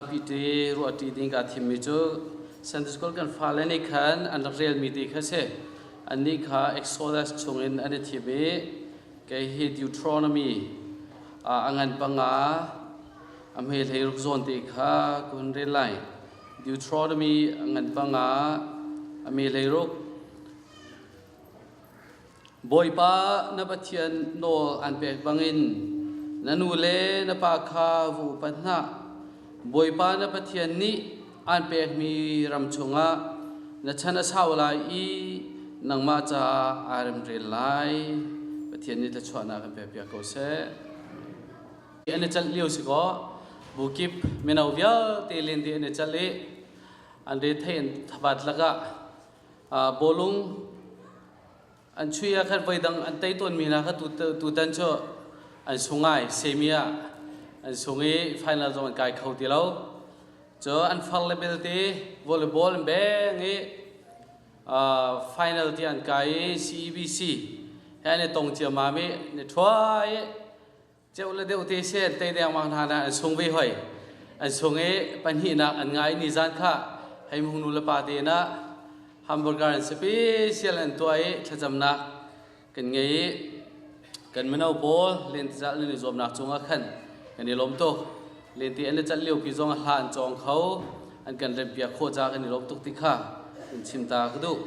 Pi ruah ṭi ding kaa thimmi cu Sunday School kan fale nih khan an rak relmi ti kha si. Annih kha Exodus chungin an i thim i kei hi Deuteronomy ah a ngan panga a hmeilei ruk zawn ti kha ka hun rel lai. Deuteronomy a ngan panga a meilei ruk Bawipa na Pathian nawl aan pek bangin na nu le na pa kha vu upat hna. Bawipa na Pathian nih aan pekmi ram chungah na chan a sau lai i nangmah caah aa remrel lai. Pathian nih thluachuahnak an pekpiak ko seh. An i calh lio si kaw, bu kip mino vialte len dih an i calh i an rethei an thabat lakah bawlung an chuih ah khan voidang an tei tawnmi hna kha tutan cu an sung ai semi ah an sung i final zong an kai kho ti lo cu an far le belte volleyball an beng i final ti an kai i CEBC he an i tong ciammam i ni thuai Ceu le deuh te sen tei dengmang hna na an sung ve hoi. An sung i pahnihnak an ngai ni zan kha hei mungnu le pa te na hamburger an special an tua i thlacamnak kan ngei i kan mino pawl lentizal nan i zuamnak cungah khan kan i lawm tuk lente an le cat lio pi zong a hla an cawng kho an kan rempiak khawh ca kan i lawm tuk ti kha kan chim ta ka duh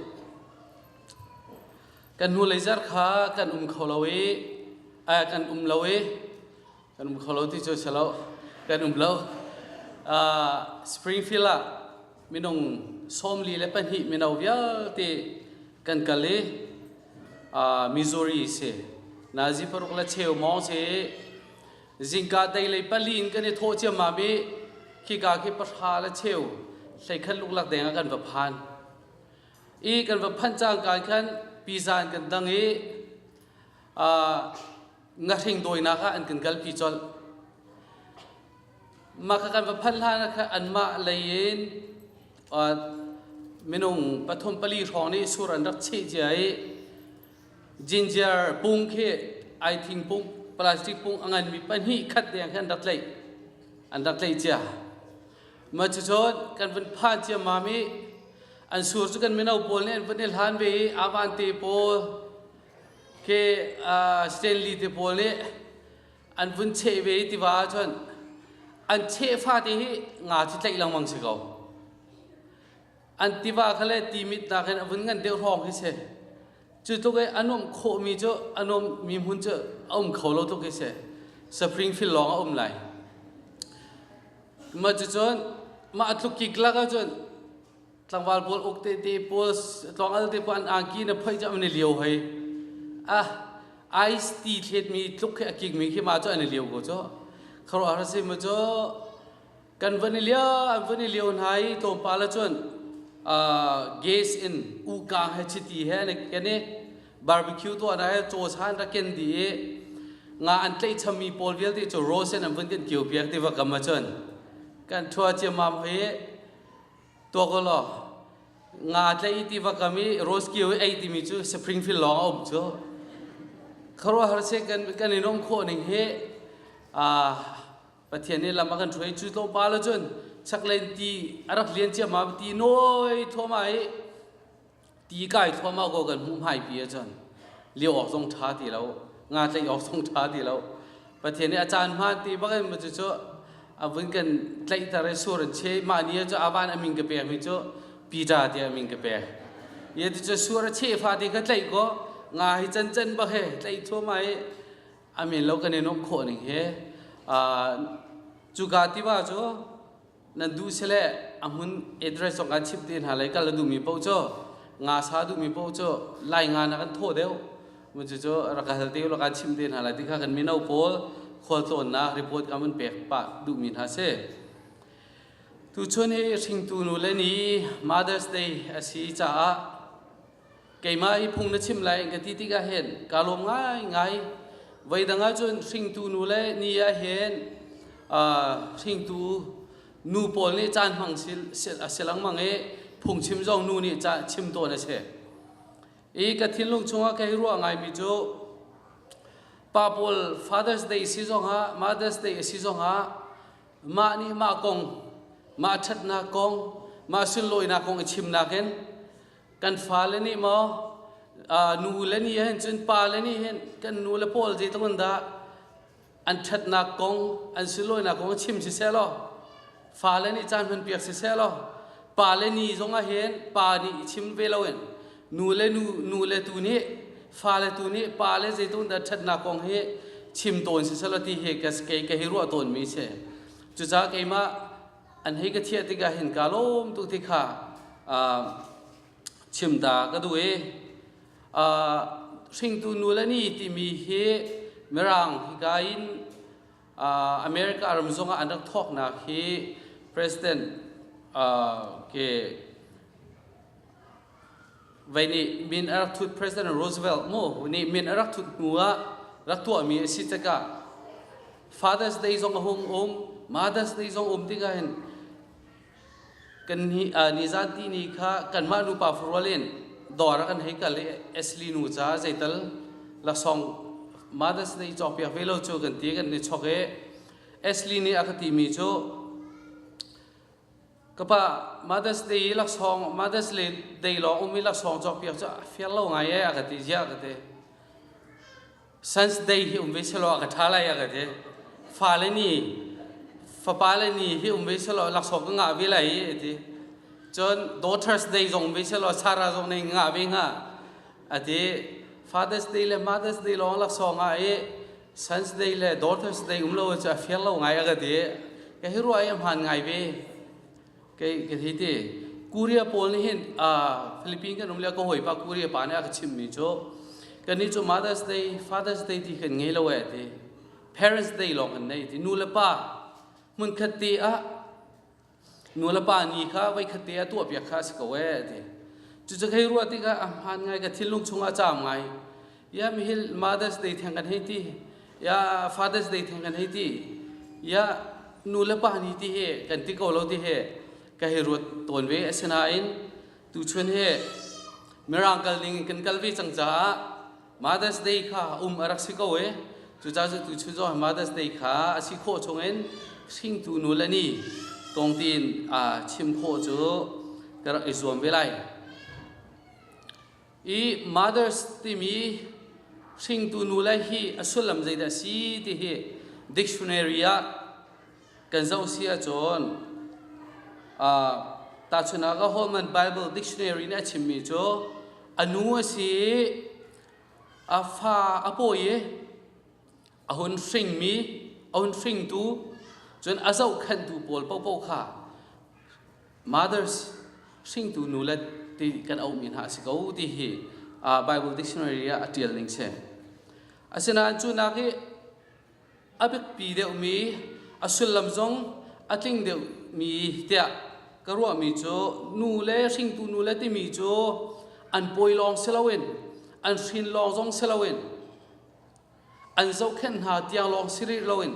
kan hnulei zer kha kan um kho lo i kan um lo i kan um kho lo ti cu si lo kan um lo springfield ah minung sawmli le pahnih mino vialte kan kal i missouri si nazi paruk le cheu mawng si zingka deilei pali in kan i thawh ciammam i khika khi pahra le cheu hleikhat luklak deng ah kan va phan i kan va phanh cangka khan pizza in kan dang i ngahring dawinak ah an kan kalpi colh. Mah kha kan va phanh hlan ah anmah lei in minung pathum pali hrawng nih sur an rak cheh cia i ginger pung khi ai thing pung plastic pung a nganmi pahnih khat deng khan an rak tleih an rak tleih cia. ma cu chon kan van phan ciamam i an sur cu kan mino pawl nih an van i hlan ve i avan te pawl ke stanley te pawl nih an vun cheh ve i tiva ah cun an cheh fate hi nga cu tlaih lengmang si ko an tiva kha le ti mit hna khin a vun ngan deuh hrawng hi si cu tluk i a nuam khawhmi cu a nuammi hmun cu a um kho lo tluk hi si springfield lawng a um lai ma cucun mah a tluk kik lak ahcun tlangval pawl uk te te pawl tlawngal te pawl an angki na phoih cu an i liao hei ah ice ti thletmi tluk khi a kikmi khi ma cu an i liao ko cu kharuah har si ma cu kan van i lio an van i lio hna i tlawmpal cun gas in uka he chiti he an ken i barbecue tuah hna he caws han rak ken di i nga an tleih chami pawl vialte cu rose in an vun kan kio piak ti va kam ahcun kan thua ciammam hi tuak u law nga tleih i ti va kam i rose kio i ei timi cu springfield lawng a um cu kharuahar se kan kan i nom khawh ning hi Pathian nih lam a kan hruai cu tlawmpal cun chaklei ti a rak lian ciama ti nawi thuama i ti kai thuama ko kan hmuh hmai pi cun li awk zong ṭha ti lo nga tlaih awk zong ṭha ti lo Pathian nih a caan hmaan ti bak in cu cu a vun kan tlaihter i sur an che mah ni cu avan a min ka pek mi cu Peter tiah a min ka pek ye ti cu sur a che fa ti kha tlaih ko nga hi can can bak he tlaih thuama i amen lo kan in um khawh ning he cuka tiva cu nan duh sele a hmun address zong kan chip te hna lai kal na duhmi paoh cu nga sa duhmi paoh cu lai nga na kan thawh deuh cucu rak hal te la kan chim te hna lai ti kha kan mino pawl khual tlawnnak report kan mun pek pa duhmi hna si tu chun hi hringtu nu le ni Mother's Day asi caah keimah hi phung na chim lai in ka ti tikah hin kaa lawm ngaingai voidang ahcun hringtu nu le ni ah hin hringtu nu pawl nih caan hmang si lengmang i phungchim zong nu nih chim tawn a si i ka thinlung chungah ka i ruah ngaimi cu pa pawl father's day si zongah mother's day a si zongah mah nih mah kong mah ṭhatnak kong mah sunlawinak kong i chim nakin kan fale nih maw nu le ni hin cun pa le ni hin kan nu le pawl zeitluk in dah an ṭhatnak kong an sunlawinak kong chim siseh law fale nih caan hman piak siseh law pa le ni zongah hin pa nih i chim ve loin nu le nu nu le tu nih fale tu nih pa le zeitluk dah ṭhatnak kong hi chim tawn siseh law ti hi ka kei ka hi ruah tawnmi a si cucaah keimah an hei ka chiah tikah hin ka lawm tuk ti kha uh, chim da ka duh i uh, hringtu nu le ni timi hi mirang hika in uh, america ram zong ah an rak thawknak hi president uh, ke Vei nih min a rak thut President Roosevelt mu nih min a rak thut hnu ah rak tuahmi a si tikah Father's Day zong a hung um Mother's Day zong um tikah hin kan ni nizanti ni kha kanmah nupa farual in dawr a kan hei kal i Ashley nu caah zeital lasong Mother's Day cawkpiak ve lo cu kan ti kan ni chok i Ashley nih a ka timi cu ka pa mothers day i laksawng mothers day lawng um i laksawng cawk piak cu a fiar lo ngai ee a ka ti ziah ka ti science day hi um ve selaw a ka ṭha lai a ka ti fale nih fapale nih hi um ve selaw laksawng ka ngah ve lai a ti cun daughters day zong um ve selaw sara zong nei ngah ve hnga a ti father's day le mothers day lawng laksawng ah i Sons Day le Daughters Day um lo cu a fir lo ngai a ka ti. Ka hi ruah hi hmaan ngai ve. Kei ka hi ti. Korea pawl nih hin Philippines kan um le ka hawi pa Korea pa nih a ka chimmi cu kan ni cu Mother's Day, Father's Day ti kan ngei lo e ti. Parents Day lawng kan nei ti. Nu le pa hmunkhat ti ah nulepa ni kha voikhat te a tuahpiak kha a si ko ee ti cucu hei ruah tikah a hmaan ngai ka thinlung chungah caam ngai ya mihil mothers day theng kan hei ti ya fathers day theng kan hei ti ya nulepa ni ti hi kan ti ko lo ti hi ka hei ruat tawn ve asinain tuchun hi mirangkal ning in kan kal ve cang caah Mother's Day kha um a rak si ko e. Cucaah tu chun zong Mother's Day kha a si khawh chungin hringtu nu le ni kong tiin aa chim khawh cu ka rak i zuam ve lai. I mothers timi hringtu nu le hi a sullam zeidah a si ti hi dictionary ah kan zoh si ahcun tahchunah ka Holman Bible Dictionary nih a chimmi cu a nu a si i a fa a pawi i a hun hringmi a hun hringtu cun a zohkhenhtu pawl paohpaoh kha mothers hringtu nu le ti kan auhmi hna a si ko ti hi Bible Dictionary ah a ṭial ning si. Asinain cu nak i a biapi deuhmi a sullam zong a tling deuhmi tiah ka ruahmi cu nu le hringtu nu le timi cu an pawi lawng si loin an hrin lawng zong si loin an zohkhenh hna tiang lawng si rih loin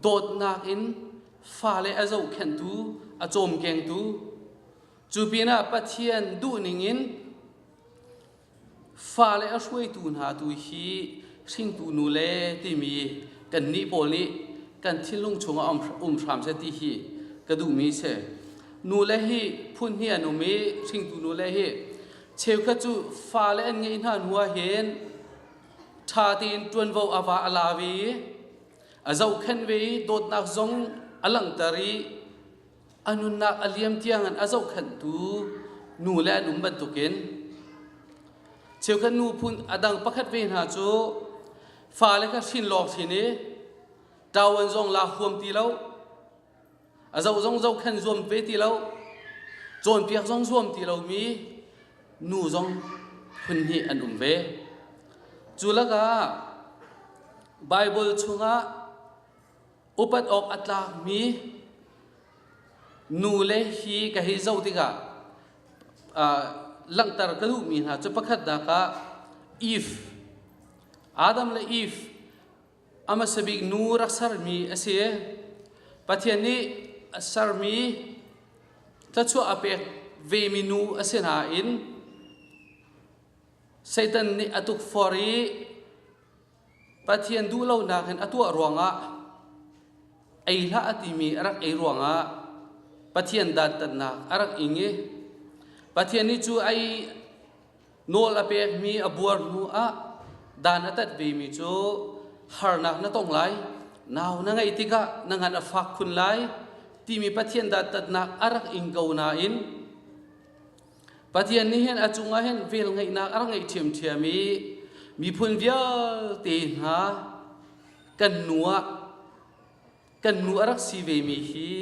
dawtnak in fale a zohkhenhtu a cawmkengtu cu pinah Pathian duhning in Fale a hruaitu hna tu hi hringtu nu le timi kannih pawl nih kan thinlung chungah um hram seh ti hi ka duhmi si. Nule hi phun hi an um i hringtu nule hi cheukhat cu fale an ngeih hna hnu ah hin ṭha tein ṭuanvo a va a la ve i a zohkhenh ve i dawtnak zong a langhter i a nunnak a liam tiangin a zohkhenhtu nu le an um bantukin cheukhat nu phun a dang pakhat ve hna cu fale kha hrin lawng hrin i ṭawan zong la huam ti lo a zoh zong zohkhen zuam ve ti lo cawnpiak zong zuam ti lomi nu zong phun hnih an um ve cu lakah Baibal chungah Upat awk a tlakmi nule hi ka hei zoh tikah uh, langhter ka duhmi hna cu pakhat dak ah Eve Adam le Eve a hmasa bik nu rak sermi a si Pathian nih a sermi thluachuah a pek vemi nu a si nain Satan nih a tukfor i Pathian duhlonak in a tuah ruangah ei hlah a timi a rak ei ruangah Pathian dantatnak a rak ing i Pathian nih cu ei nawl a pekmi a buar hnuah dan a tat vemi cu harnak na tong lai, nau na ngeih tikah na ngan a fak khun lai timi Pathian dantatnak a rak ing ko nain Pathian nih hin a cungah hin velngeihnak a rak ngeih ṭhiamṭhiam i miphun vialte hna kan nu ah kan nu a rak si vemi hi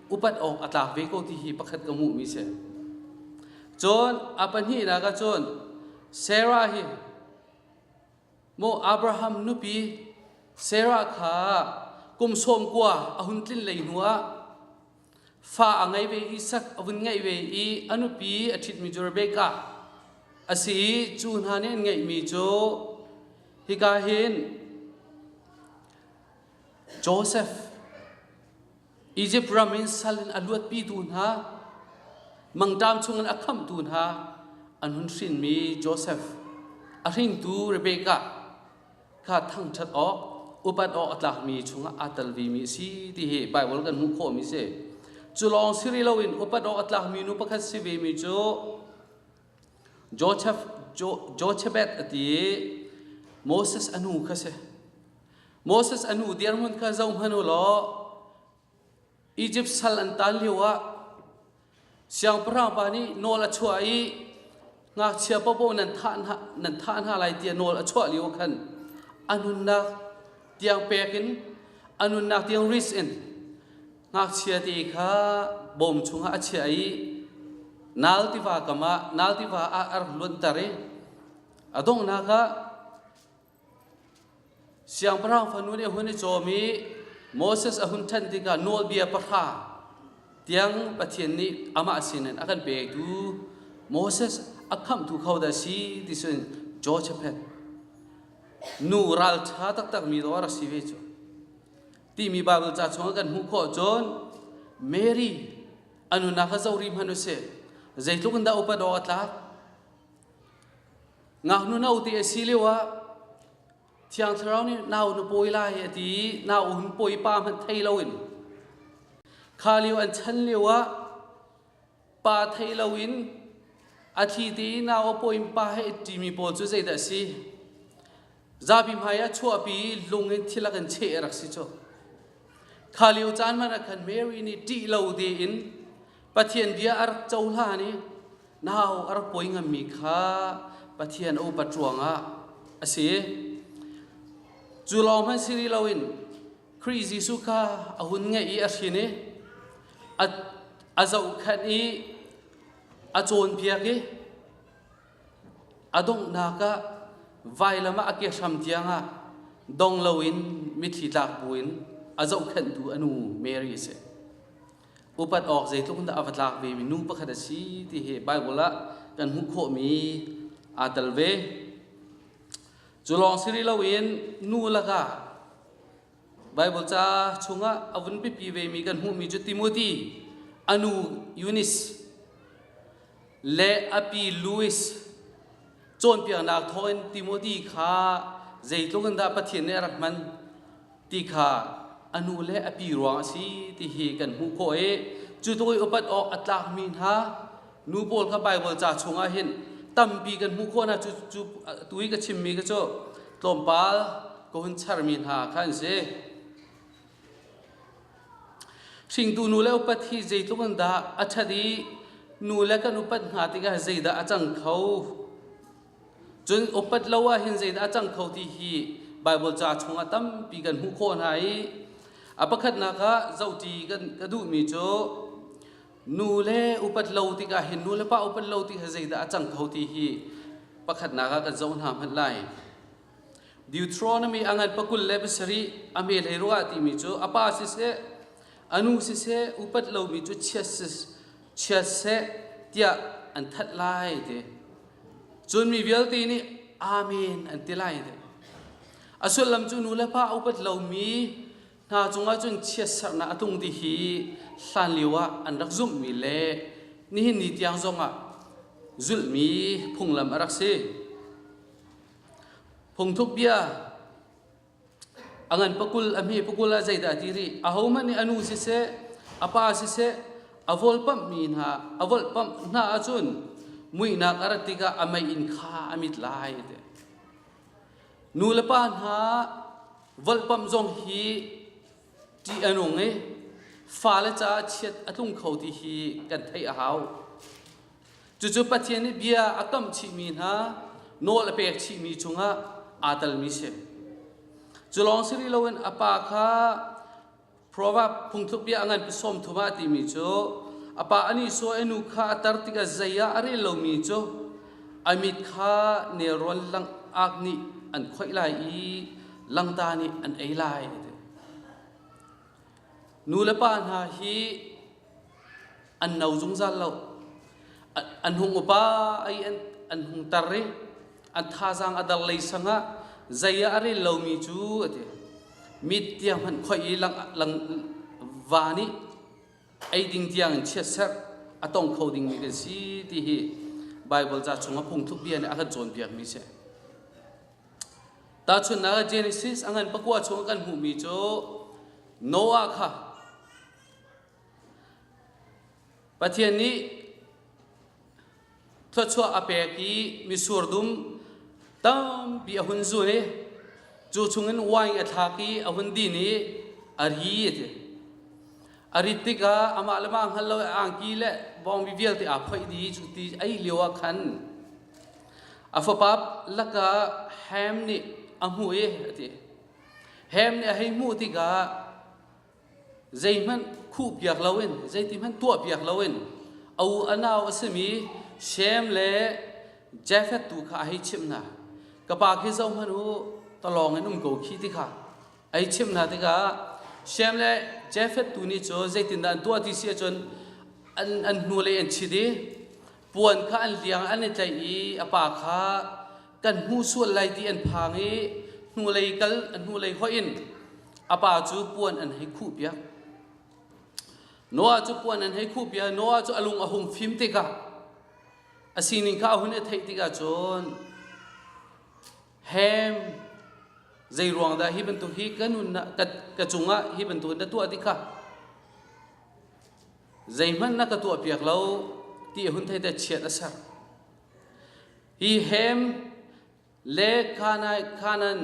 upat awk a tlak ve ko ti hi pakhat ka hmuhmi si. Cun a pahnihnak ah cun Sarah hi maw Abraham nupi Sarah kha kum sawm kua a hun tlin lei hnuah fa a ngei ve i sak a vun ngeih ve i a nupi a ṭhitmi cu Rebekah a si i cu hna nih an ngeihmi cu hika hin Josef Izipt ram in sal in a luatpitu hna mangṭam chungin a khamhtu hna an hun hrinmi Josef a hringtu Rebekah kha thangṭhat awk upat awk a tlakmi chungah aa tel vemi a si ti hi Baibal kan hmuh khawhmi si. Cu lawng si rih loin upat awk a tlakmi nu pakhat si vemi cu Joseph, Josephat a ti i Moses a nu kha si. Moses a nu dirhmun kha zohhmanh u law Izipt sal an taan lioah siangpahrang pa nih nawl a chuah i ngakchia paohpaoh nan thah hna, nan thah hna lai tiah nawl a chuah lio khan a nunnak tiang pek in a nunnak tiang ris in ngakchia te kha bawm chungah a chiah i nal tiva kam ah nal tiva ah a rak luanter i a donghnak ah Siangpahrang fanu nih a hun i cawm i Moses a hun ṭhen tikah nawlbia pahra tiang Pathian nih amah sinin a kan pektu Moses a khamhtu kho dah si ti cun Joshaphat nu ralṭha taktakmi dawr a si ve cu. Timi Baibal ca chungah kan hmuh khawh cun Mary a nunak kha zoh rih hmanh u sih. Zeitluk in dah upat awk a tlak? ngaknu no ti a si lio ah thiang thlarau nih nau na pawi lai a ti i nau hun pawi pa hmanh thei lo in kha lio an chan lio ah pa thei lo in a thi ti i nau a pawi pa he i ṭimi pawl cu zeidah a si Zapi hmai a chuahpi i lung in thilak in cheh a rak si cu. Kha lio caan man ah khan Mary nih ṭih lo tein Pathian bia a rak cohlan i nau a rak poi ngammi kha Pathian a upat ruangah a si. Cu lawng hmanh si rih loin Khrih Jesuh kha a hun ngaih i a hrin i a, a zohkhenh i a cawnpiak i A donghnak ah vailam ah a ke hram tiangah dong loin mitthli tlak buin a zohkhenhtu a nu Mary a si. Upat awk zeitluk in dah a va tlak vemi nu pakhat a si ti hi Baibal ah kan hmuh khawhmi aa tel ve. Cu lawng si rih loin nu lakah Baibal ca chungah a vun pipi vemi kan hmuhmi cu Timothy a nu Eunice le a pi Louis cawnpiaknak thawngin Timothy kha zeitluk in dah Pathian nih a rak hman ti kha a nu le a pi ruang a si ti hi kan hmuh khawh i cu tluk i upat awk a tlakmi hna Nu pawl kha Baibal ca chungah hin tampi kan hmuh khawh hna cu cu tu i ka chimmi kha cu tlawmpal ka hun charmi hna kha an si. Hringtu nu le upat hi zeitluk in dah a ṭhat i nu le kan upat hna tikah zeidah a cang kho? Cun upat lo ahhin zeidah a cang kho ti hi Baibal ca chungah tampi kan hmuh khawh hna i a pakhatnak ah zohṭi kan ka duhmi cu Nu le upat lo tikah hin nu le pa upat lo ti he zeidah a cang kho ti hi pakhatnak ah kan zoh hna hmanh lai. Deuteronomy angan pakul le pasarih a me lei ruah timi cu a pa siseh anu siseh upat lomi cu chia seh tiah an that lai te cun mi vialte nih amen an ti lai te a sullam cu nu le pa upat lomi Hna cungah cun chiatserhnak a tlung ti hi hlanlio ah an rak zumhmi le nihin ni tiang zongah zulhmi phunglam a rak si. Phungthuk bia a ngan pakul a hme pakul a zeidah ti ri a hohmanh nih a nu siseh a pa siseh a volpamh mi hna a volpamh hna ahcun muihnak a rat tikah a mei in kha a mit lai te Nu le pa hna volhpamh zong hi ṭih a nung i fale caah chiat a tlung kho ti hi kan theih a hau. Cucu Pathian nih bia a kamh chihmi hna nawl a pek chihmi cungah aa telmi si. Cu lawng si rih loin a pa kha Proverb phungthlukbia a nganpi sawmthum ah timi cu a pa an Isua i nu kha a tar tikah zei ah a rel lomi cu a mit kha nelrawn lang ak nih an khoih lai i langta nih an ei lai. Nu le pa hna hi an no zungzal lo an hung upa ai an an hung tar i an thazaang a dar lei sang ah zei ah a rel lomi cu a ti mit tiang hman khoih i lang lang va nih ei ding tiang in chiatserh a tong kho dingmi kan si ti hi Bible ca chung a phungthluk bia nih a kan cawnpiakmi si tahchunnak ah Genesis a ngan pakua chung kan hmuhmi cu Noah kha Pathian nih thluachuah a pek i misur dum tampi a hun zun i cu chungin wine a thlak i a hun din i a ri a ti. A rit tikah amah le mah hngal lo i angki le bawngbi vialte aa phoih dih cu ti ei lio ah khan a fapa lakah Ham nih a hmuh i a ti. Ham nih a hei hmuh tikah Zeihmanh khuh piak loin, zeitihmanh tuah piak loin a u a nau a simi Shem le Jafeth tu kha a hei chimh hna. Ka pa khi zohhmanh u, talawng in um ko khi ti kha a hei chimh hna tikah Shem le Jafeth tu nih cu zeitindah an tuah ti si ahcun an, an hnulei an chit i puan kha an liang an i tlaih i a pa kha kan hmu sual lai ti an phang i hnulei kal hnulei hoih in a pa cu puan an hei khuh piak Noah cu puan an hei khuh piak Noah cu a lung a hung fim tikah a sining kha a hun i theih tikah cun hem zei ruang dah hi bantuk hi ka nun ah ka, ka cungah hi bantuk na tuah ti kha zeihmanh na ka tuah piak lo ti hun thei te chiat a ser hi hem le khanai khanan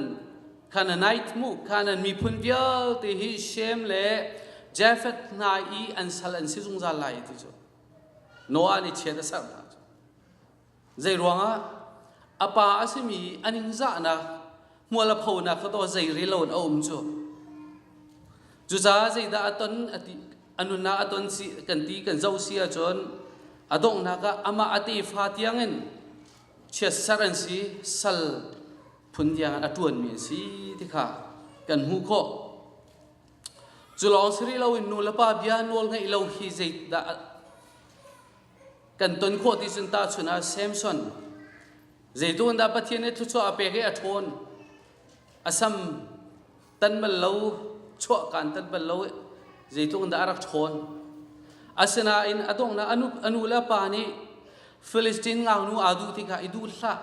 khananite mu khanan miphun vialte hi shem le jafet hna i an sal an si zungzal lai ti cu noah nih chiat a ser hna cu zei ruangah a pa a simi a ningzahnak hmual a phonak kha to zei rel lo in a um cu cucaah zeidah a ton a ti a nunah a ton si kan ti kan zoh si ahcun a donghnak ah amah a tefa tiangin chiatser an si sal phun tiang a ṭuanmi an si ti kha kan hmuh khawh cu lawng si rih loin nu le pa bia nawl ngaih lo hi zeidah kan ton khawh ti cun tahchun ah Samson zeitu dah Pathian nih thluachuah a pek i a ṭhawn a sam tan bal lo chuah kaan tan bal lo zeitluk in dah a rak ṭhawn asinain a donghnak a nu, a nu le pa nih Filistin ngaknu aa duh ti kha i duh hlah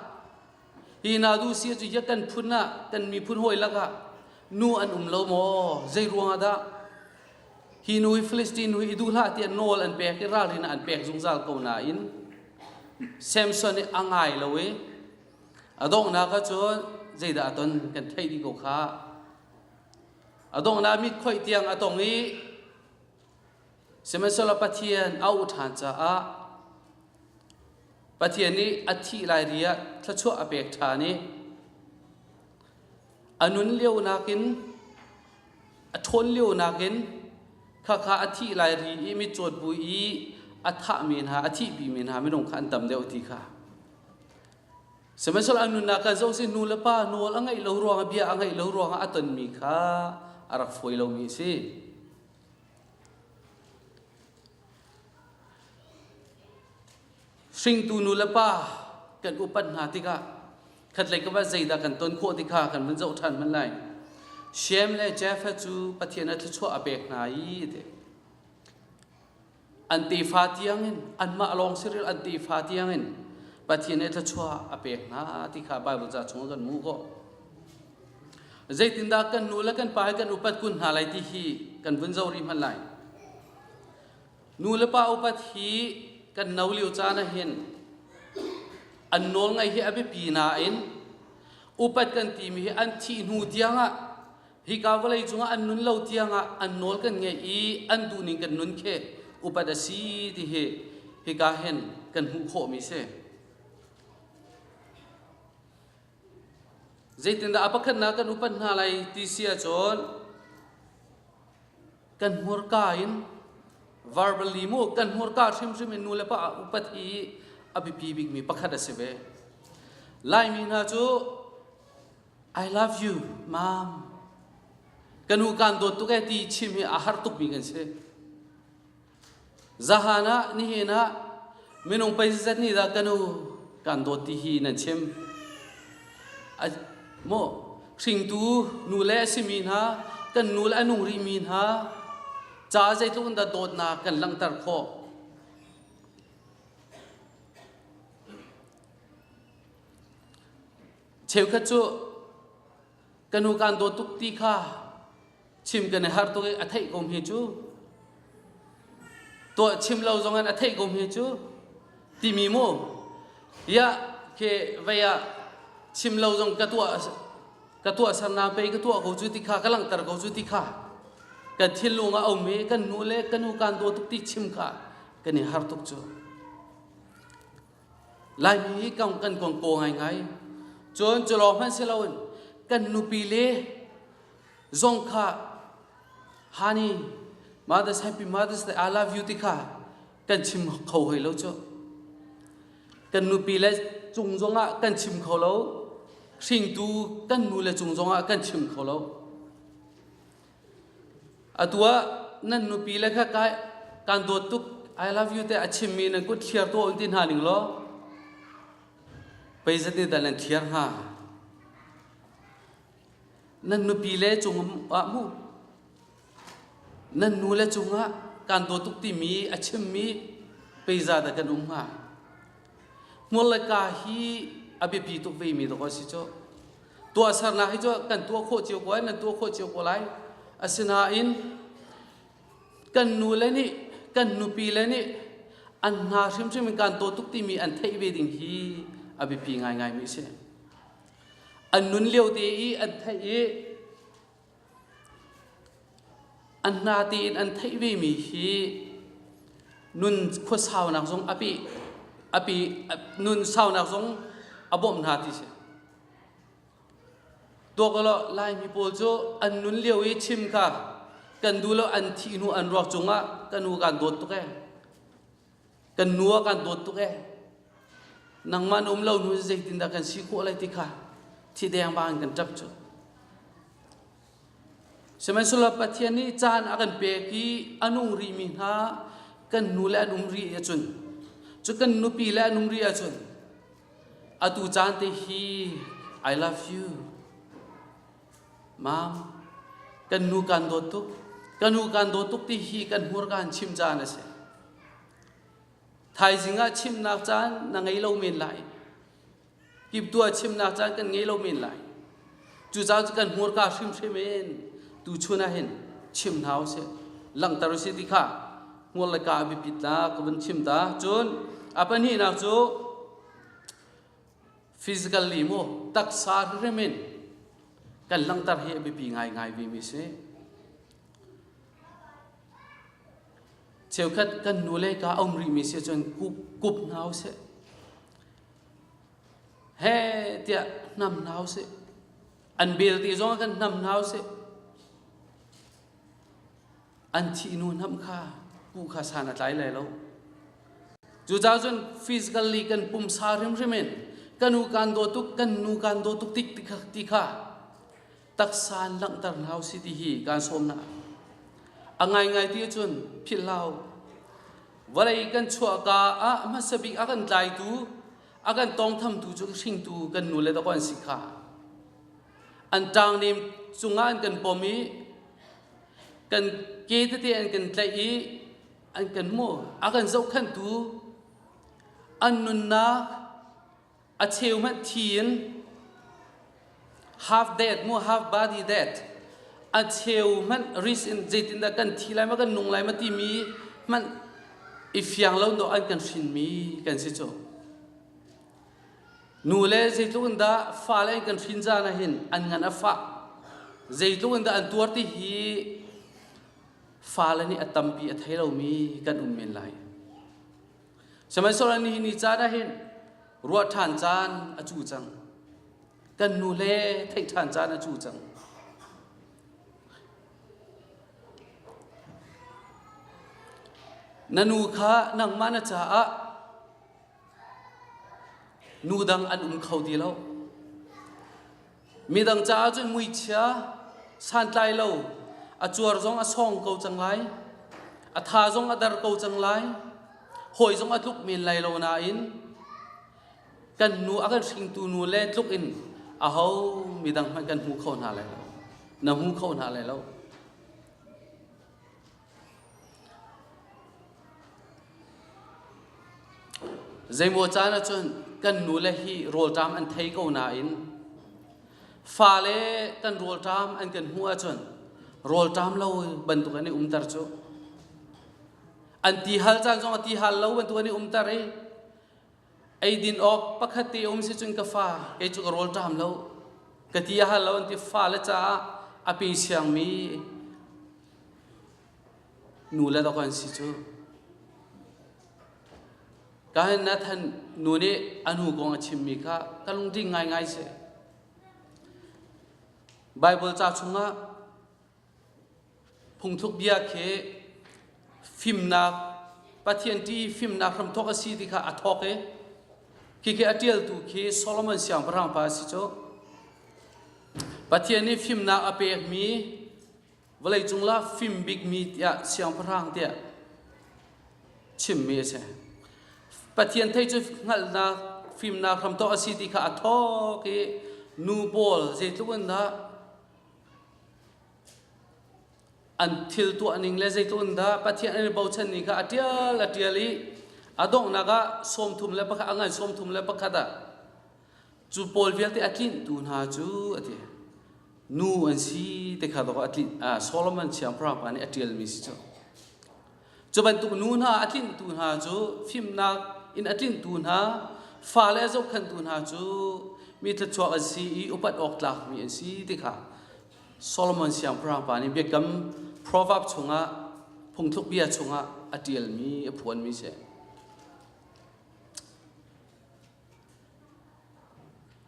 hi na duh si cu ya kan phun ah kan miphun hawi lakah nu an um lo maw zei ruangah dah Hi nu hi Philistine nu hi i duh hlah tiah nawl an pek i ralrin ah an pek zungzal ko nain Samson hi a ngai lo i a donghnak ahcun zeidah a ton kan theih dih ko kha. A donghnak mit khoih tiang a tong i sihmanhsehlaw Pathian a auh ṭhan caah Pathian nih a thih lai ri ah thluachuah a pek ṭhan i a nun lio nakin a ṭhawn lio nakin khakha a thih lai ri i mitcawn pu i a thahmi hna a thihpimi hna minung kha an tam deuh ti kha sihmanhsehlaw an nunnak kha zoh si nu le pa nawl a ngeih lo ruangah bia a ngeih lo ruangah a tonmi kha a rak fawi lomi a si hringtu nu le pa kan upat hna tikah khatlei ka bat zeidah kan ton khawh ti kha kan vun zoh ṭhan hman lai. Shem le Japheth cu Pathian a thluachuah a pek hna i ti. an tefa tiangin anmah lawng si an tefa tiangin Pathian he thluachuah a pek hna ti kha Bible ca chung kan mu ko. Zeitindah kan nu le kan pa he kan upat kun hna lai ti hi kan vun zo rih hman lai. nulepa upat hi kan no lio caan ah hin an nawl ngaih hi a biapi nain upat kan timi hi an thih hnu tiangah hika vawlei cungah an nun lo tiangah an nawl kan ngaih i an duhning kan nun khi upat a si ti hi hika hen kan hmuh khawhmi si. Zeitindah a pakhatnak kan upat hna lai ti si ahcun kan hmurka in verbally mu kan hmurka hrimhrim in nu le pa upat hi a biapi bikmi pakhat a si ve laimi hna cu i love you mom kan u kan dawt tuk e ti chim hi a har tukmi kan si Zahan ah nihin ah minung pei zat ni dah kanu kan dawt ti hi nan chim. Maw hringtu nule a simi hna kan nule a nung rihmi hna ca zeitluk in dah dawtnak kan langhter khawh. Cheukhat cu ka nu kan dawt tuk ti kha chim kan i har tuk i a theih kom hi cu tuah chim lo zong in a theih kom hi cu timi mu ya ke vei ah chim lo zong ka tuah ka tuah sarna pei ka tuah ko cu ti kha ka langhter ko cu ti kha kan thinlung a um i kan nu le kan nu kan dawt tuk ti chim kha kan i har tuk cu Laimi hi kan kan kong kaw ngaingai. Cun culawng hmanh si loin kan nupi le zong kha honey mothers happy mothers that I love you ti kha kan chim kho hoi lo cu. Kan nupi le cung zong ah kan chim kho lo. Hringtu kan nu le cung zong ah kan chim kho lo. Atu ah nan nupi le kha kai kan dawt tuk I love you te a chimmi nan kut thliar tuah un ti hna ning law pei zat nih dah nan thliar hnga nan nupi le cung ah mu nan nu le cungah kan dawt tuk timi a chimmi pei za dah kan um hnga Hmur le ka hi a biapi tuk vemi dawk an si cu. Tuahsernak hi cu kan tuah khawh cio ko lai, nan tuah khawh cio ko lai. Asinain kan nu le nih kan nupi le nih an hna hrimhrim in kan taw tuk timi an theih ve ding hi a biapi ngaingaimi a si. An nun lio te i an theih i An hna tein an theih vemi hi nun khuasaunak zung a pih a pi nun saunak zung a bawmh hna ti si. Tuakalaw Laimi pawl cu an nun lio i chim kha kan duh lo an thih hnu an ruak cungah kan u kaan dawt tuk ee. kan nu ah kan dawt tuk ee nangman um lo nu zeitindah kan si khawh lai ti kha thi deng ba in kan ṭap cu sihmanhsehlaw pathian nih caan a kan pek i a nung rihmi hna kan nu le an um rih ahcun cu kan nupi le an um rih ahcun atu caan te hi I love you Mam, kan nu kan dawt tuk. Kan nu kan dawt tuk ti hi kan hmurka in chim caan a si. Thaizing ah chimnak caan na ngei lo men lai. Kiptua chimnak caan kan ngei lo men lai. Cu caan cu kan hmurka hrimhrim in tu chun ah hin chim hna u si. Langhter u si ti kha hmur le ka biapit la ka vun chim ta. Cun a pahnih nak cu physically maw taksa hririm in kan langhter hi a biapi ngaingai vemi si cheukhat kan nu le ka um rihmi si cun kup kup hna usih he tiah nam hna usih an belte zong ah kan nam hna usih an thihnu hnamh kha hmu kha san a tlai lai lo. Cucaah cun physically kan pumsa hrimhrim in kan u kan daw tuk kan nu kan daw tuk tik ti kha, ti kha taksa in langhter hna u si ti hi kan sawmna. A ngaingai ti cun philhlau vawlei kan chuahka ah hmasa bik a kan tlaitu a kan tawngthamtu cu hringtu kan nu le dako an si kha an ṭangnem cungah an kan pom i kan ke tete an kan tlaih i an kan hmu a kan zohkhanhtu an nunnak a cheu hmanh thi in half dead mu half body dead a cheu hmanh risk in zeitindah kan thi lai ma kan nung lai ma timi hmanh i fiang lo dawh an kan hrinmi kan si cu Nu le zeitluk in dah fale in kan hrin zan ahhin an ngan a fah. Zeitluk in dah an tuar ti hi fale nih a tampi a thei lomi kan um men lai. Sihmanhsehlaw nihin ni caan ahhin ruah ṭhan caan a cu cang. Kan nu le theih ṭhan caan a cu cang. Na nu kha nangmah na caah Nu dang an um kho ti lo. Midang caah cun muichia santlai lo a cuar zong a sawng ko cang lai. A tha zong a dar ko cang lai. Hawi zong a tluk men lai lo nain kan nu a kan hringtu nu le tluk in a ho midang hmanh kan hmu kho hna lai lo. Na hmu kho hna lai lo. Zeimaw caan ah cun kan nule hi rawlṭam an thei ko nain fale kan rawlṭam an kan hmuh ahcun rawlṭam lo bantuk an i umter cu. An ti hal caan zong a ti hal lo bantuk an i umter i Eidin awk pakhat te um si cun ka fa e cu ka rawl ṭam lo ka ti a hal lo an ti fale caah a pe siangmi nu le dok an si cu ka hin na than nu nih a nu kong a chimmi kha ka lungding ngaingai si Bible ca chungah Phungthluk bia khi fimnak Pathian ṭih i fimnak hramthawk a si ti kha a thawk i khikhih a ṭialtu khi Solomon siangpahrang pa a si cu. Pathian nih fimnak a pekmi vawleicung la fim bikmi tiah siangpahrang tiah chimmi a si. Pathian thei cu hngalhnak fimnak hramthawk a si ti kha a thawk i nu pawl zeitluk in dah an thil tuahning le zeitlun dah pathian an i bochan ni kha a tial a tial i a donghnak ah sawmthum le pakhat a ngan sawmthum le pakhat ah cu pawl vialte a tlintu hna cu a ti nu an si ti kha dawk a tlin ah solomon siangpahrangpa nih a tialmi si cu Cu bantuk nu hna a tlinhtu hna cu fimnak in a tlinh tu hna fale a zohkhantu hna cu mi thluachuak an si i upat awk tlakmi an si ti kha Solomon siangpahrang pa nih biakam proverb chungah phungthluk bia chungah a ṭialmi a phuanmi a si.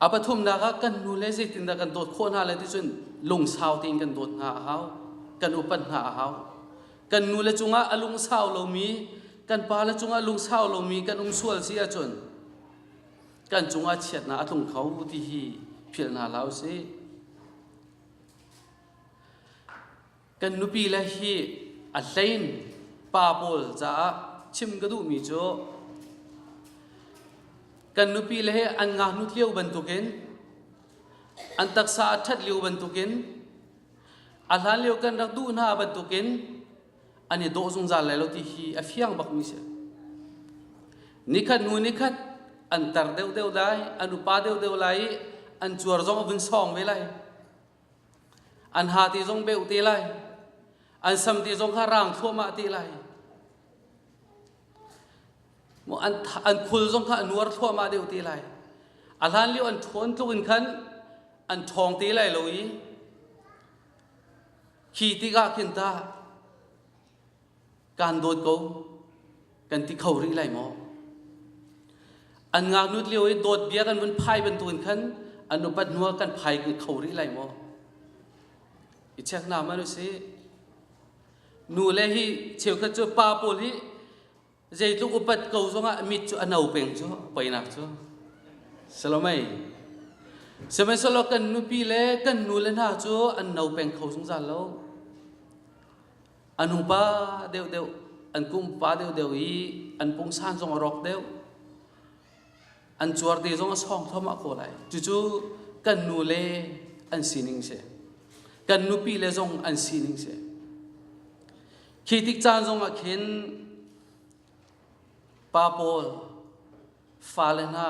A pathumnak ah kan nu le zeitindah kan dawt khawh hna lai ticun lungsau tein kan dawt hna a hau. Kan upat hna a hau. Kan nu le cungah a lungsau lomi, kan pa le cungah lungsau lomi kan um sual si ahcun kan cungah chiatnak a tlung kho ti hi philh hna hlah usih. kan nupile hi a hlein pa pawl caah chim ka duhmi cu kan nupile hi an ngaknut lio bantukin an taksa a ṭhat lio bantukin a hlan lio kan rak duh hna bantukin an i dawh zungzal lai lo ti hi a fiang bakmi si nikhat nu nikhat an tar deuhdeuh lai an upa deuhdeuh lai i an cuar zong a vun sawng ve lai An ha ti zong beuh te lai. An sam ti zong kha rang thluahmah te lai. An, an khul zong kha a nuar thluahmah deuh te lai. A hlan lio an ṭhawn tluk in khan an ṭhawng te lai lo i khi tikah khin tah Kan dawt ko kan ti kho rih lai maw? An ngaknut lio i dawt bia kan vun phai bantukin khan an upat hnuah kan phai kho rih lai maw? I check na man u si. Nu le hi cheukhat cu pa pawl hi zeitluk upat ko zongah mit cu a no peng cu poinak cu. Salomei. Sihmanhsehlaw kan nupi le kan nu le hna cu an no peng kho zungzal lo. an upa deuhdeuh an kumpa deuhdeuh i an pungsan zong a rawk deuh an cuar te zong a sawng thomah ko lai cucu kan nu le an sining si kan nupi le zong an sining si khi tik caan zongah khin pa paul fale hna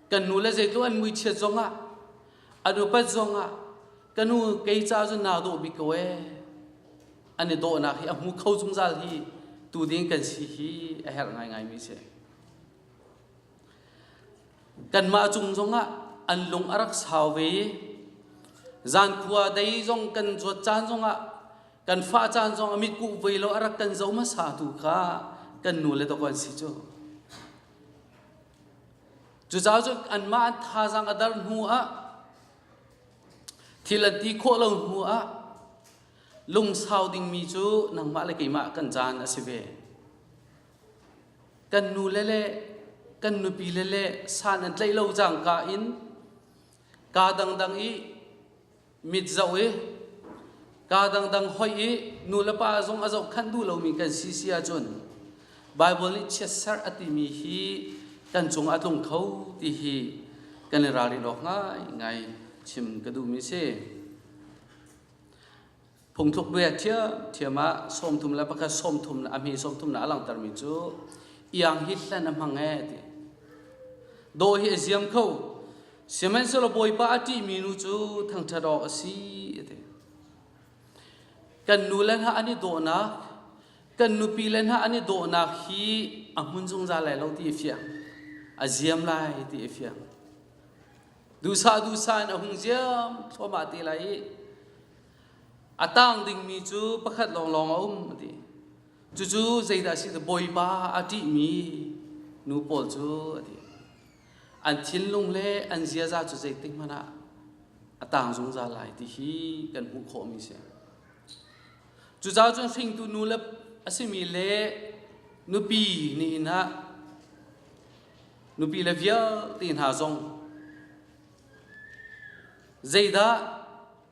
kan nu le zeitluk an muichiat zongah an upat zongah ka nu kei ca cu naa dawh bik ko ee an i dawhnak hi a hmu kho zungzal hi tu ding kan si hi a herh ngaingaimi si kanmah cung zongah an lung a rak sau ve i zankhua dei zong kan zuat caan zongah kan fah caan zong a mit kuh ve lo a rak kan zo hmasa tu kha kan nu le dok an si cu cucaah cu anmah an thazang a dar hnu ah thil an ti khawh lo hnu ah lungsau dingmi cu nangmah le keimah kan caan a si ve kan nu le le kan nupi le le san an tlaih lo cangka in ka dangdang i mit zoh i kaa dangdang hoih i nu le pa zung a zohkhanh duh lomi kan si si ahcun Baibal nih chiatserh a timi hi kan cungah a tlung kho ti hi kan i ralrin awk ngaingai chim ka duhmi si. Phungthluk ve thiam ah sawmthum le pakhat sawmthum a mi sawmthum na a langhtermi cu iang hi hlen a hmang e ti do hi a ziam kho sihmanhsehlaw bawipa a ṭihmi nu cu thangṭhat awk a si ti kan nu le hna an i dawhnak kan nupi le hna an i dawhnak hi a hmun zungzal lai lo ti i fiang a ziam lai ti i fiang dusa dusa in a hung ziam thluahmah te lai i A tang dingmi cu pakhat lawnglawng a um a ti. Cucu zeidah a si? Bawipa a ṭihmi nu pawl cu a ti. An thinlung le an ziaza cu zeitik hmanh ah a tang zungzal lai ti hi kan hmuh khawhmi a si. Cucaah cun hringtu nu le a simi le nupi nihin ah nupi le vialte hna zong zeidah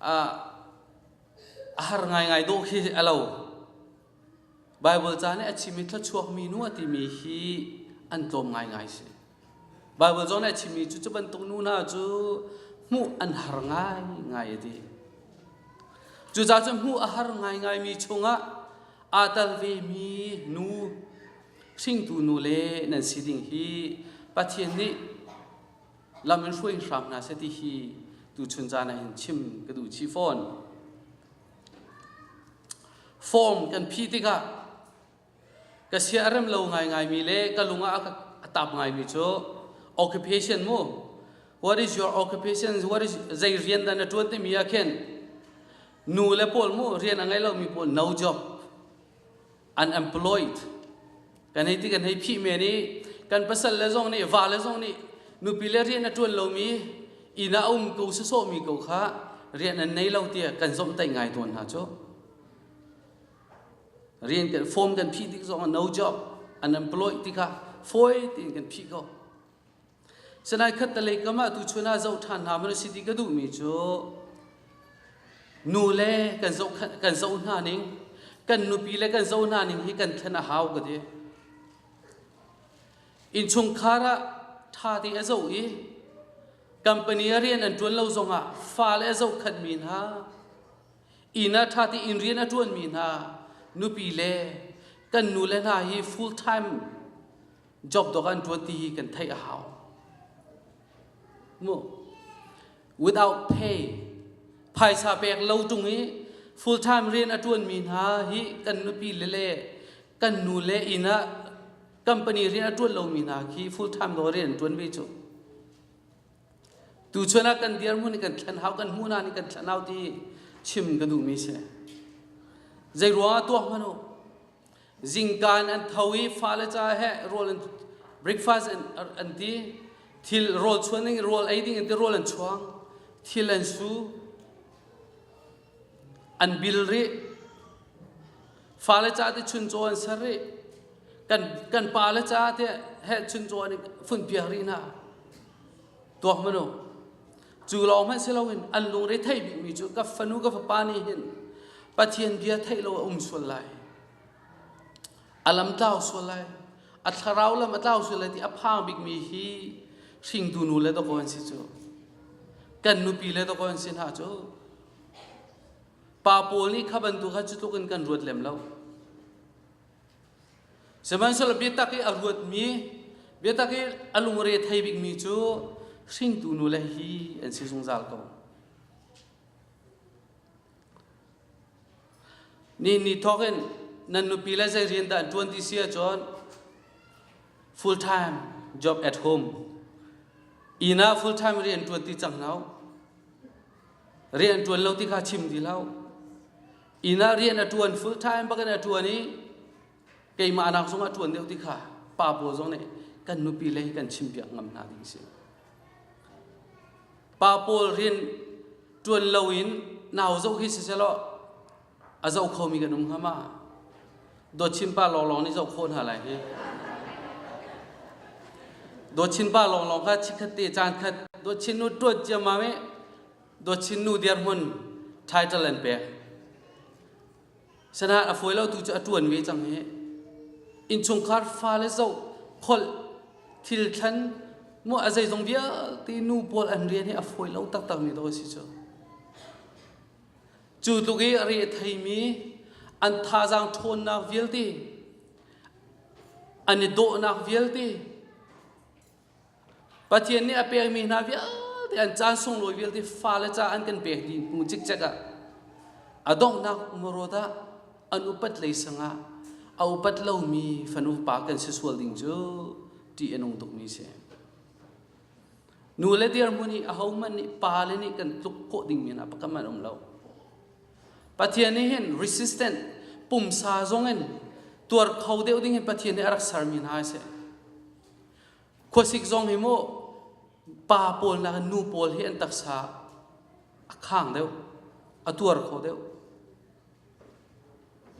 a har ngaingai dawh khi a lo. Baibal ca nih a chimmi thluachuakmi nu a timi hi an tlawm ngaingai si. Baibal zawn nih a chimmi cu cu bantuk nu hna cu hmuh an har ngaingai a ti. Cucaah cun hmuh a har ngaingaimi chungah aa tel vemi nu, hringtu nu le nan si ding hi Pathian nih lam in hruai hram hna seh ti hi tuchun caan ah hin chim ka duh chih fawn form kan phi tikah ka siarem lo ngaingaimi le ka lungah a tap ngaimi cu occupation mu what is your occupation what is zei rian dan na tuan timi ah khin nu le pawl mu rian a ngei lomi pawl no job unemployed kan hei ti kan hei phih men i kan pasal le zong nih va le zong nih nupi le rian a ṭuan lomi inn ah a um ko sasawmi ko kha rian an nei lo tiah kan zomhtaih ngai tawn hna cu rian kan form kan phih tik zong no job unemployed ti kha fawi tein kan phih ko Salai khattalei kam ah tuchun ah zoh ṭhan hna maw na si ti ka duhmi cu nu le kan zoh kan zoh hna ning kan nupi le kan zoh hna ning hi kan thlen a hau ka ti. Innchungkhar ah ṭha te a zoh i company a rian an ṭuan lo zong ah fale a zohkhanhmi hna inn ah ṭha tein rian a ṭuanmi hna nupi le kan nu le hna hi full time job dawk an ṭuan ti hi kan theih a hau mu without pay phaisa pek lo ṭung i full time rian a ṭuan mi hna hi kan nupi le le kan nu le inn ah company rian a ṭuan lo mi hna khi full time lo rian an ṭuan ve cu tu chuan ah kan dirhmun kan thlen hau kan hmuh na nih kan thlen hau ti chim ka duh mi si zei ruang ah tuah hmanu Zingkaan an tho i fale ca he rawl an breakfast an, an ti. Thil rawl chuan ding rawl ei ding an ti rawl an chuang. Thil an su. An bil rih. Fale ca te chun caw an ser rih. Kan kan pa le ca te he chun caw nih fun piak rih hna. Tuak manu. Cu lawng hmanh si loin an lungre theih bikmi cu ka fanu ka fapa nih hin Pathian bia theih lo a um sual lai. A lam tlau sual lai. A thlarau lam a tlau sual lai ti a phang bikmi hi hringtu nu le dawkaw an si cu. Kan nupi le dawkaw an si hna cu. Pa pawl nih kha bantuk kha cu tluk in kan ruat lem lo. Sihmanhsehlaw biatak i a ruatmi, biatak i a lungre thei bikmi cu hringtu nule hi an si zungzal ko. Ni ni thawk in nan nupi le zei rian dah an ṭuan ti si ahcun full time job at home. Inn ah full time rian ṭuan ti cang lo. Rian ṭuan lo ti kha chim ti lo. inn ah rian a ṭuan full time bakin a ṭuan i keimah nak zongah ṭuan deuh ti kha pa paw zong nih kan nupi lei kan chimpiak ngam hna ding si pa pawl rian ṭuan lo in nau zoh hi sisehlaw a zoh khomi kan um ngam ah dawtchin pa lawnglawng nih zoh khawh hna lai hi dawtchin pa lawnglawng kha chikkhat te caan khat dawtchin nu ṭuat ciammam i Dawtchin nu dirhmun title an pek. Sana a foi lo tu cu a tuan ve cang hi. Inchungkhar fale zo kholh thil thlan mu a zeizong vialte nu pawl an rian hi a foi lo taktak mi dawt si cu. Cu tluk i re theimi an thazang ṭhawnnak vialte an i dawhnak vialte Pathian nih a pekmi hna vialte an caan sunglawi vialte fale ca an kan pek dih hnu cikcek ah a donghnak um rawt ah an upat lei sangah a upat lomi fanu pa kan si sual ding cu ṭih a nung tukmi a si. Nu le dirhmun i ahohmanh nih pa le nih kan tluk khawh ding men ah pakam an um lo. Pathian nih hin resistant pumsa zong in tuar kho deuh ding in Pathian nih a rak sermi hna a si. Khuasik zong hi mu pa pawl nakin nu pawl hi an taksa a khang deuh, a tuar kho deuh.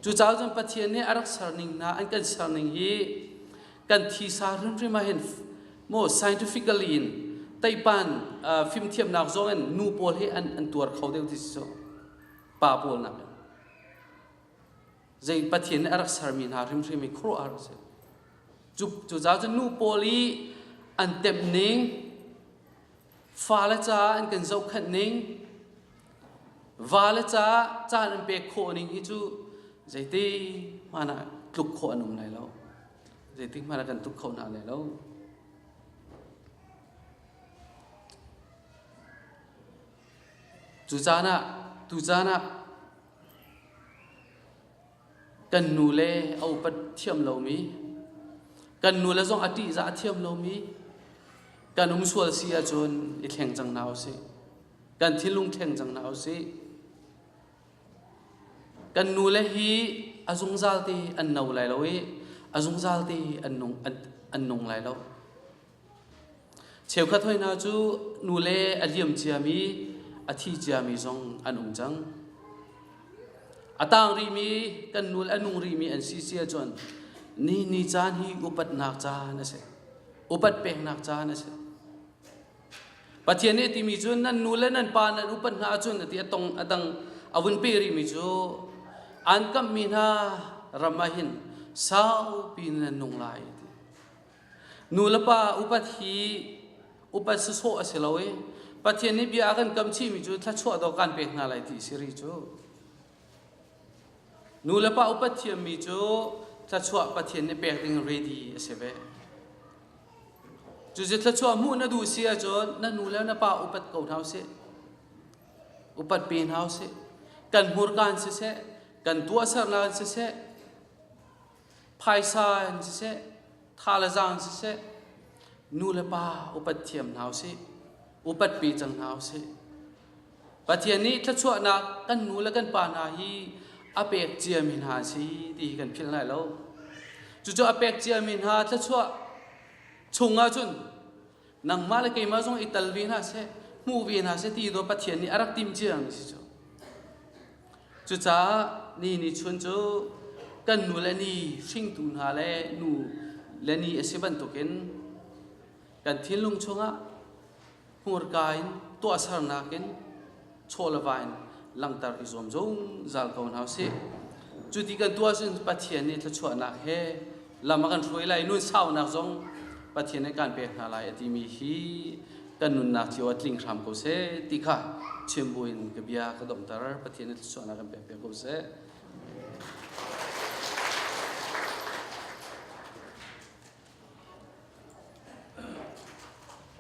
Cucaah cun Pathian nih a rak serning hna an kan serning hi kan thisa hrimhrim ah hin mo scientifically in teipan uh, fimthiamnak zong in nu pawl hi an, an tuar kho deuh ti si so pa pawl nak in. zei pathian a rak sermi hna hrimhrim i khuaruahhar a si cu cucaah cun nu pawl i an temh ning fale caah an kan zohkhenh ning vale caah caan an pek khawh ning hi cu zeiti hmanh ah tluk khawh an um lai lo zeiti hmanh ah kan tluk khawh hna lai lo cu caan ah tu caan ah kan nu le a upat thiam lomi, kan nu le zong a ṭihzah a thiam lomi, kan um sual si ahcun i thleng cang hna usih. Kan thinlung thleng cang hna usih. Kan nu le hi a zungzal te an no lai lo i a zungzal te an nung, an, an nung lai lo. Cheukhat hoi hna cu nule a liam ciami, a thi ciami zong an um cang. A tang rihmi, kan nul a nung rihmi an si si ahcun ni ni caan hi upatnak caan a si. Upat peknak caan a si. Pathian nih a timi cun nan nu le nan pa nan upat hna ahcun a ti a tong a dang a vun pe rihmi cu an kamhmi hna ram ah hin saupi nan nung lai ti. Nulepa upat hi upat sawsawh a si lo i Pathian nih bia a kan kamchihmi cu thluachuah dawh kan pek hna lai ti si ri cu. Nulepa upat thiammi cu thluachuah Pathian nih pek ding ready a si ve. Cucu thluachuah hmuh na duh si ahcun na nu le na pa upat ko hna usih. Upat pe hna usih. Kan hmurka in siseh, kan tuahsernak in siseh, phaisa in siseh tha le zang siseh nu le pa upat thiam hna usih upat pe cang hna usih pathian nih thluachuahnak kan nu le kan pa hna hi a pek ciami hna si ti hi kan philh lai lo cucu a pek ciami hna thluachuah chung ahcun nangmah le keimah zong i tal ve hna seh hmuh ve hna seh ti dawh Pathian nih a rak timh cia mi si cu cucaah ni ni chun cu kan nu le ni hringtu hna le nu le ni a si bantukin kan thinlung chungah hmurka in tuahsernak in chaw le va in langhter i zuam zungzal ko hna usih. Cu ti kan tuah sin Pathian nih thluachuahnak he lam a kan hruai lai nun saunak zong Pathian nih kan pek hna lai a timi hi kan nunnak cio a tling hram ko seh ti kha chim buin ka bia ka domhter Pathian nih thluachuahnak kan pek ve ko seh.